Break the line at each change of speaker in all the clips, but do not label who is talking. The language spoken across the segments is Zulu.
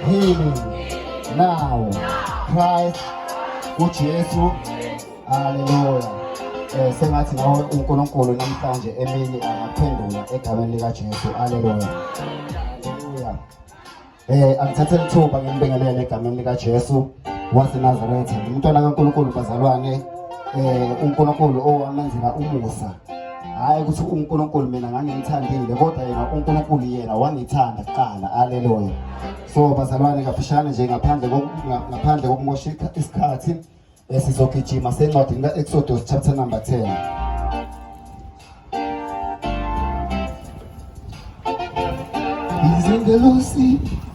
healing now Christ uJesu haleluya eh sengathi nawe uNkulunkulu namhlanje emini angaphendula egameni lika Jesu haleluya haleluya eh angithathe lithuba ngimbingelele egameni lika Jesu waseNazaretha umntwana kaNkulunkulu bazalwane eh uNkulunkulu owamenzela umusa hhayi ukuthi unkulunkulu mina ngangimthandile kodwa yena unkulunkulu yena wangithanda kuqala aleluya so bazalwane kafushane nje ngaphandle ngaphandle kokumosha isikhathi eh, sizogijima sencwadini ka-exodus chapter number 10 He's in the Lucy.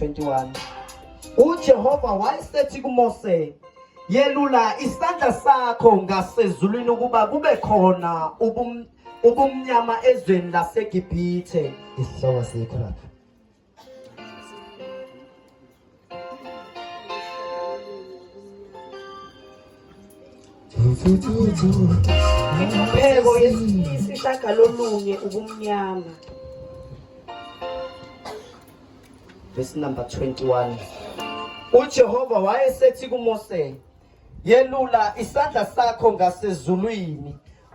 21
uJehova wayesethi kuMose yelula isandla sakho ngasezulwini ukuba kube khona ubum ubumnyama ezweni laseGibhithe isihloko sikho
lapha
Imbeko yesishagalolunye ubumnyama. Verse number 21. UJehova wayesethi kuMose, "Yelula isandla sakho ngasezulwini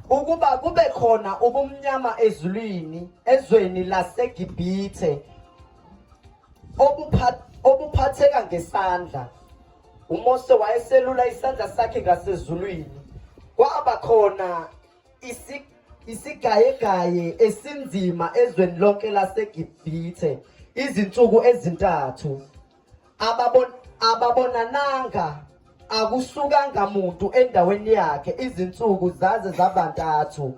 ukuba kube khona ubumnyama ezulwini ezweni laseGibhithe obuphatheka ngesandla uMose wayeselula isandla sakhe ngasezulwini kwaba khona isigayegaye esinzima ezweni lonke laseGibhithe izinsuku ezintathu ababon ababonananga akusukanga muntu endaweni yakhe izinsuku zaze zabantathu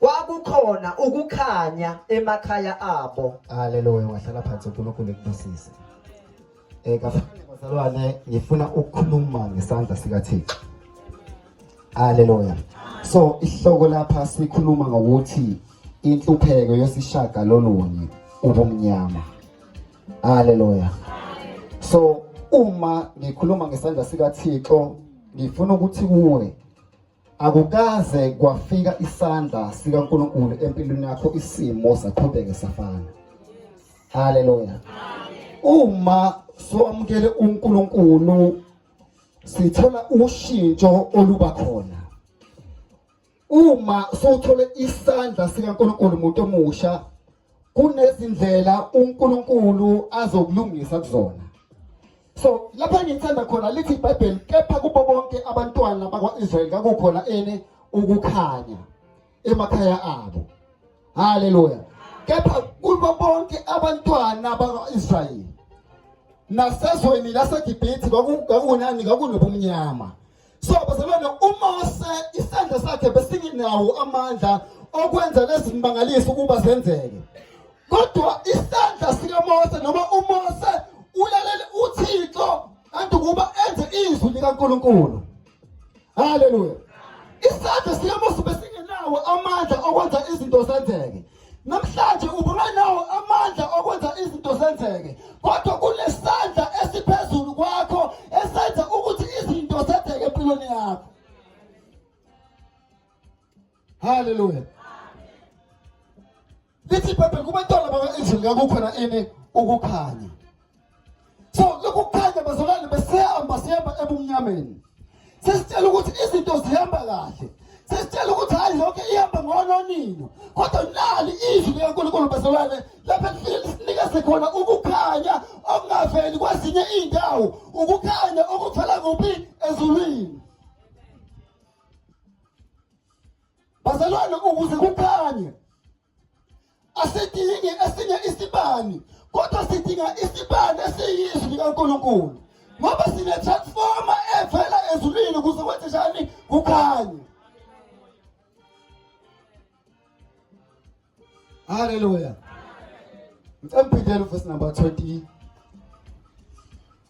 kwakukhona ukukhanya emakhaya abo haleluya wahlala
phansi uNkulunkulu ekubusise eh kafanele bazalwane ngifuna ukukhuluma ngesandla sika Thixo haleluya so isihloko lapha sikhuluma ngokuthi inhlupheko yosishaka lolunye ubumnyama haleluya so uma ngikhuluma ngesandla sika Thixo ngifuna ukuthi kuwe Akukaze kwafika isandla sikaNkulunkulu empilweni yakho isimo saqhubeke safana. Haleluya. Uma somkele uNkulunkulu sithola ushintsho oluba khona. Uma sothole isandla sikaNkulunkulu umuntu omusha kunezindlela uNkulunkulu azokulungisa kuzona so lapha ngithanda khona lithi iBhayibheli kepha kubo bonke abantwana bakwaIsrael kakukhona ene ukukhanya emakhaya abo haleluya kepha kubo bonke abantwana bakwaIsrael nasezweni laseGibhithe kwakunani kwakunobumnyama so bazalwane umose isandla sakhe besinginawo amandla okwenza lezimangaliso ukuba zenzeke kodwa isandla sikamose noma umose ulalele uthixo kanti ukuba enze izwi likankulunkulu haleluya isandla sikamose besingenawo amandla okwenza izinto zenzeke Namhlanje ubungenawo amandla okwenza izinto zenzeke, kodwa kunesandla esiphezulu kwakho esenza ukuthi izinto zenzeke empilweni yakho. Hallelujah. Lithi iBhayibheli kubantwana bakwa-Israyeli kakukhona ini ukukhanya. so lokukhanya bazalwane besihamba sihamba ebumnyameni sesitshela ukuthi izinto zihamba kahle sesitshela ukuthi hayi yonke ihamba ngononino kodwa nali izwi likankulunkulu bazalwane lapho lisinikeze khona ukukhanya okungaveli kwezinye iy'ndawo ukukhanya okuvela kuphi ezulwini bazalwane ukuze kukhanye asidingi esinye isibani kodwa sidinga isibani esiyizwi likaNkulunkulu ngoba sine-transforma evela ezulwini kuze kwenze njani kukhanye halleluya ngicemphindela uvesi number 20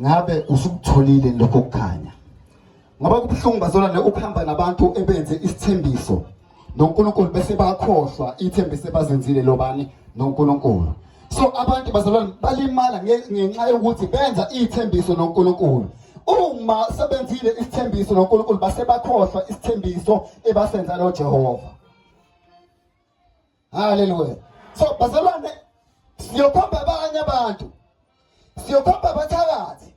ngabe usukutholile lokho kukhanya ngoba kubuhlungu bazolwane ukuhamba nabantu ebenze isithembiso noNkulunkulu bese bakhohlwa ithembiso ebazenzile lobani noNkulunkulu so abantu bazalwane balimala ngenxa yokuthi benza ithembiso noNkulunkulu uma sebenzile isithembiso noNkulunkulu base bakhohlwa isithembiso ebasenza lo Jehova haleluya so bazalwane siyokhomba abanye abantu siyokhomba abathakathi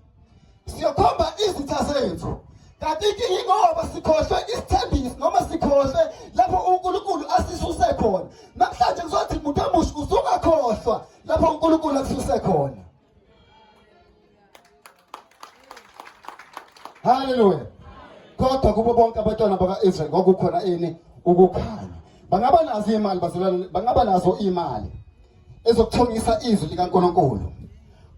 siyokhomba izitha zethu kanti inkinga ingoba sikhohlwe isithembiso noma sikhohlwe lapho unkulunkulu asisuse khona namhlanje kuzothi muntu omusha uzungakhohlwa lapho unkulunkulu akususe khona Hallelujah. Kodwa kubo bonke abantwana baka-Israyeli kwakukhona ini ukukhanya. Bangaba nazo imali bazalwane, bangaba nazo imali ezokuthongisa izwi likaNkulunkulu.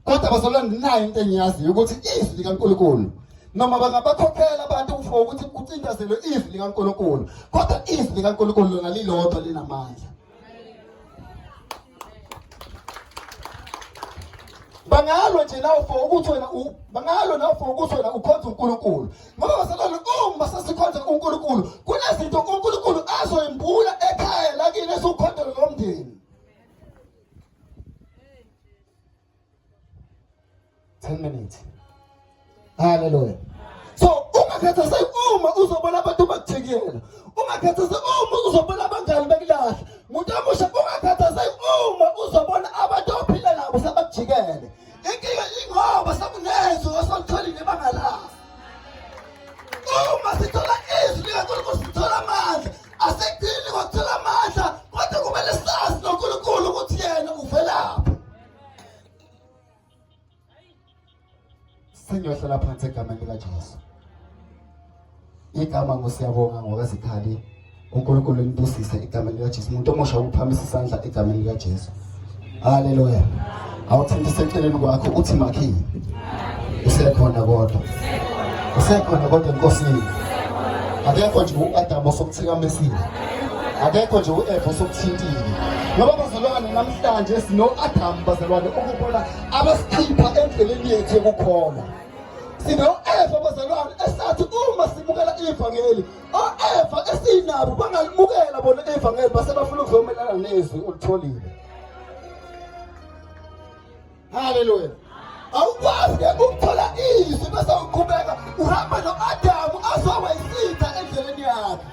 Kodwa bazalwane nayo into engiyaziyo ukuthi izwi likaNkulunkulu noma bangabakhokhela abantu for ukuthi kucindezelwe izwi likaNkulunkulu kodwa izwi likaNkulunkulu lona lilodwa linamandla bangalwa nje nawe for ukuthi wena bangalwa nawe for ukuthi wena ukhonza uNkulunkulu ngoba basalona uma sesikhonza uNkulunkulu kunezinto uNkulunkulu azoyimbula ekhaya lakini esiwukhonzela lomndeni 10 minutes haleluya so ungakhathazeki uma uzobona abantu bakujikela ungakhathazeki uma uzobona abangani bekulahle muntu omusha ungakhathazeki uma uzobona abantu ophila nabo sebakujikele inkinga ingoba sekunezwi osolitholile ibanga lakho uma sithola izwi likankulunkulu sithola amandla asikudingi ngokuthola amandla kodwa kumele sazi nonkulunkulu ukuthi yena uvelaphi sengiyohlala phansi egameni likaJesu igama ngosiyabonga ngokazikhali uNkulunkulu libusise egameni likaJesu umuntu omusha ukuphamisa isandla egameni likaJesu haleluya awuthinte seceleni kwakho uthi makhini usekhona kodwa usekhona kodwa enkosini akekho nje u-adamu osokuthikamesile akekho nje u-eva osokuthintile ngoba bazalwane namhlanje sino-adamu bazalwane ukubona abasikhipha endleleni yethu yokukholwa sino-eva bazalwane esathi uma simukela ivangeli o-eva esinabo bangalimukela bona ivangeli base bafuna ukuzomelana nezwi olitholile haleluya awukwazi ke ukuthola izwi bese uqhubeka uhamba no-adamu azoba isitha endleleni yakhe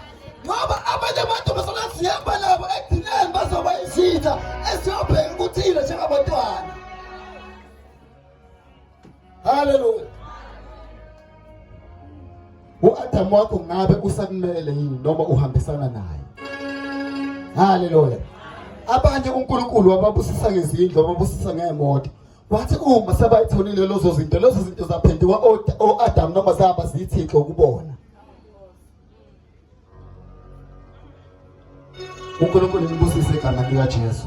ngoba abanye abantu basona sihamba nabo ekugcineni bazoba isitha esiyobheka ukuthile njengabantwana haleluya uAdamu wakho ngabe usakumele yini noma uhambisana naye haleluya abanye uNkulunkulu wababusisa ngezindlu wababusisa ngeemoto wathi uma sebayitholile lezo zinto lezo zinto zaphenduka oAdamu noma zaba zithixo ukubona uNkulunkulu libusise igama likaJesu